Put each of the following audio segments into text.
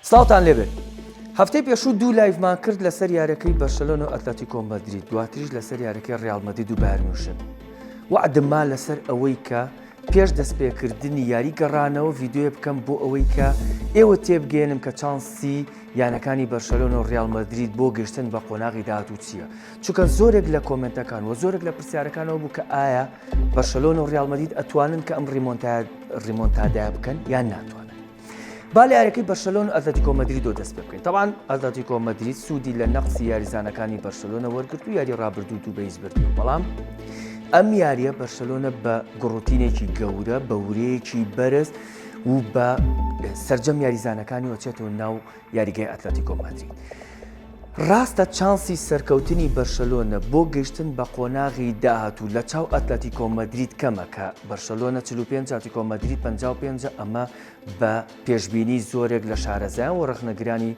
سڵاوتان لێبێت هەفتەی پێشوو دوو لایڤمان کرد لەسەر یارەکەی بەرشەلۆن و ئەتلەتی کۆمەدرید دواتریش لەسەر یارەکەی ڕالمەدید و بارنوشن وعدمما لەسەر ئەوەی کە پێش دەستپێکردنی یاری گەڕانەوە یددیوێ بکەم بۆ ئەوەی کە ئێوە تێبگەێنم کە چانسی یانەکانی بەرشەلۆن و ڕیال مەدرید بۆ گەشتن بە قۆناغی داهاتوو چییە چونکە زۆرێک لە کۆمنتەکان و زۆرێک لە پرسیارەکانەوە بوو کە ئایا بەرشەلۆن و ڕیال مەدید ئەتوانن کە ئەم ڕیمۆنتاد ڕیمۆنتادای بکەن یان ناتوانن با لە یاریەکەی بەرشەلۆن و ئەتلەتیکۆ مەدریدۆ دەست پێ بکەین تەوان ئەتلەتیکۆ مەدرید سوودی لە نەقسی یاریزانەکانی بەرشەلۆنە وەرگرت و یاری ڕابردوو دوو بەیس بردی و بەڵام ئەم یاریە بەرشەلۆنە بە گوڕوتینێکی گەورە بە ورەیەکی بەرز و بە سرجەم یاریزانەکانی وەچێتەوە ناو یاریگای ئەتلەتیکۆ مەدرید. ڕاستە چانسی سەرکەوتنی بەرشەلۆنە بۆ گەیشتن بە قۆناغی داهاتوو لە چاو ئەتلەتیکۆ مەدرید کەمە کە بەرشەلۆنە 45 ئەتلەتیکۆ مەدرید 55 ئەمە بە پێشبینی زۆرێک لە شارەزایان و ڕەخنەگرانی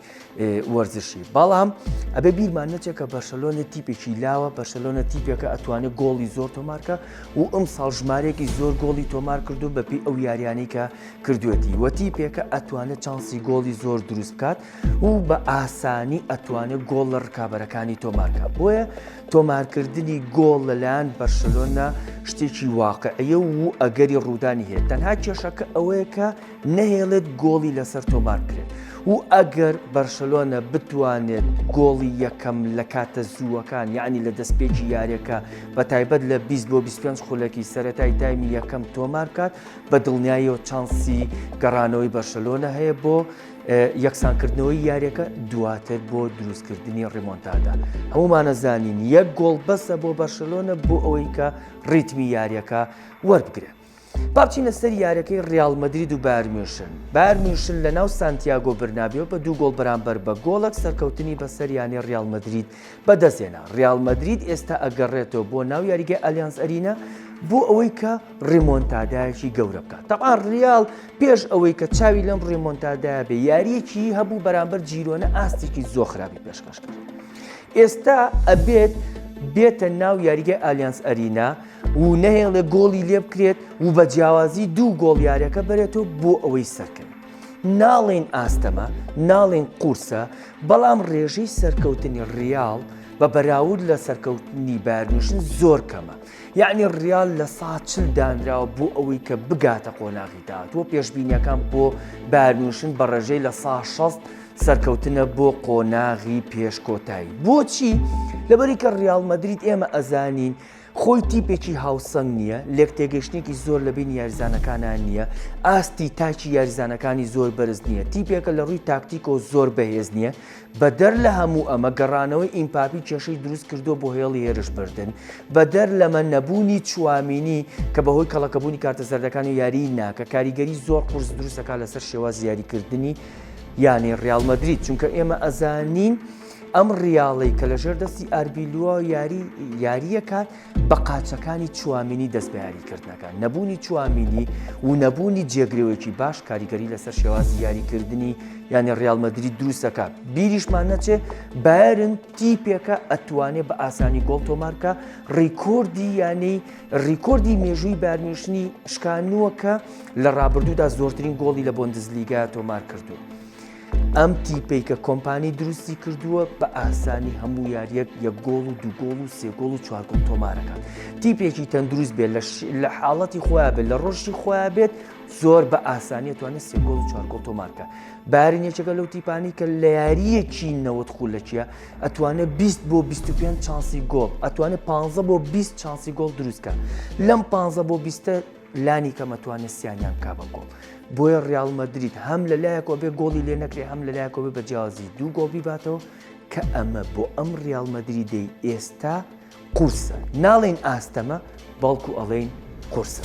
وەرزشی بەڵام ئەبێ بیرمان نەچێت کە بەرشەلۆنە تیپێکی لاوە بەرشەلۆنە تیپێکە ئەتوانێت گۆڵی زۆر تۆمارکە و ئەم ساڵ ژمارێکی زۆر گۆڵی تۆمار کردو بەپی ئەو یاریانی کە کردوێتی وە تیپێکە ئەتوانێت چانسی گۆڵی زۆر دروست بکات و بە ئاسانی ئەتوانێت گۆڵ لە ڕکابەرەکانی تۆمارکە بۆیە تۆمارکردنی گۆڵ لەلایەن بەرشلۆنە شتێکی واقعەیە و ئەگەری ڕوودانی هەیە تەنها کێشەکە ئەوەیە کە نەهێڵێت گۆڵی لەسەر تۆمار بکرێت و ئەگەر بەرشلۆنە بتوانێت گۆڵی یەکەم لە کاتە زووەکان یعنی لە دەستپێکی یاریەکە بە تایبەت لە 20 بۆ 25 خولەکی سەتای تایمی یەکەم تۆمارکات بە دڵنیاییەوە چانسی گەڕانەوەی بەرشەلۆنە هەیە بۆ یەکسانکردنەوەی یاریەکە دواتر بۆ دروستکردنی ڕیمۆنتادا هەمومانە زانین یەک گۆڵ بەسە بۆ بەرشەلۆنە بۆ ئەوەی کە ڕیتمی یاریەکە وەربگرێت. باچینە سەر یارەکەی ریال مدرید و بارمیشن بارمیشن لە ناو سانتیاگۆ برنابیەوە بە دوو گۆڵ بەرامبەر بە گۆڵک سەرکەوتنی بەسەریانی ریال مدرید بەدەستهێنا، ریال مەدرید ئێستا ئەگەڕێتەوە بۆ ناو یاریگای ئالیانز ئەرینا بۆ ئەوەی کە ڕیمۆنتادایەکی گەورە بکات تەبا ریال پێش ئەوەی کە چاوی لەم ڕیمۆنتادایە بێ یاریەکی هەبوو بەرامبەر جیرۆنە ئاستێکی زۆر خراپی پێشکەش کرد ئێستا ئەبێت بێتە ناو یاریگە ئالیانس ئەرینا و نەهێڵێ گۆڵی لێ بکرێت و بە جیاوازی دوو گۆڵ یارەکە بەرێتەوە بۆ ئەوەی سەرکەن ناڵێین ئاستەمە ناڵێن قورسە بەڵام ڕێژەی سەرکەوتنی ڕیاڵ بە بەراورد لە سەرکەوتنی بارمیشن زۆر کەمە یعنی ڕیال لە ساچل دانراوە بۆ ئەوەی کە بگاتە قۆناغی داهاتوە پێشببینیەکان بۆ بارمیشن بە ڕێژەی لە سا 16 سەرکەوتنە بۆ قۆناغی پێشکۆتایی بۆچی لەبەری کە ڕیاڵ مەدریت ئێمە ئەزانین خۆی تیپێکی هاوسەنگ نییە، لێکتێگەیشتنێکی زۆر لە بینی یاریزانەکانیان نییە، ئاستی تاکی یاریزانەکانی زۆر بەرز نییە، تیپێکە لە ڕووی تاکتیکەوە زۆر بەهێز نییە، بەدەر لە هەموو ئەمە گەڕانەوەی ئیمپاپی کێشەی دروست کردووە بۆ هێڵی هێرش بردن، بەدەر لەمە نەبوونی چوامینی کە بەهۆی کەڵەکەبوونی کارتە زەردەکان و یاریی ناکە کاریگەری زۆر قورس دروست دەکات لەسەر شێوازی یاریکردنی یانەی ڕیاڵ مەدرید، چونکە ئێمە ئەزانین، ئەم ڕیاڵەی کە لە ژێر دەستی ئاربیلووە یاری یاریەکات بە قاچەکانی چوامینی دەست بە یاریکردنەکە نەبوونی چوامینی و نەبوونی جێگرەوەیەکی باش کاریگەری لەسەر شێوازی یاریکردنی یانی ڕیالمەدرری دروستەکە بیریشمان نەچێ بارن تیپێکە ئەتوانێ بە ئاسانی گۆڵ تۆمارکە ڕیکۆردی یانەی ڕیکۆردی مێژووی بارمیشنی شکانووەکە لە ڕابردوودا زۆرترین گۆڵی لە بۆندزلیگا تۆمار کردو. ئەم تیپەی کە کۆمپانی دروستی کردووە بە ئاسانی هەموو یاریەک یەک گۆڵ و دوگۆڵ و سێگۆڵ و چوارگۆڵ تۆمارەکان تیپێکی تەندروست بێت لە حاڵەتی خۆیان بێت لە ڕۆژی خۆیان بێت زۆر بە ئاسانیە توانێت سێگۆڵ و چوارگۆڵ تۆمارکە بارین یەکێکە لەو تیپانی کە لە یاریەکی نەوەت خولەکیە ئەتوانێت 20 بۆ 25 چانسی گۆڵ ئەتوانێت 15 بۆ 20 چانسی گۆڵ دروستکە لەم 15 بۆ 20 لانی کەم ئەتوانێت سیانیان بکا بە گۆڵ بۆیە ڕیال مەدرید هەم لە لایەکەوە بێ گۆڵی لێ نەکرێ هەم لە لایەکەوە بە جیازی دوو گۆڵ بیباتەوە کە ئەمە بۆ ئەم ڕیال مەدریدەی ئێستا قورسە ناڵین ئاستەمە بەڵکو ئەڵێین قورسە.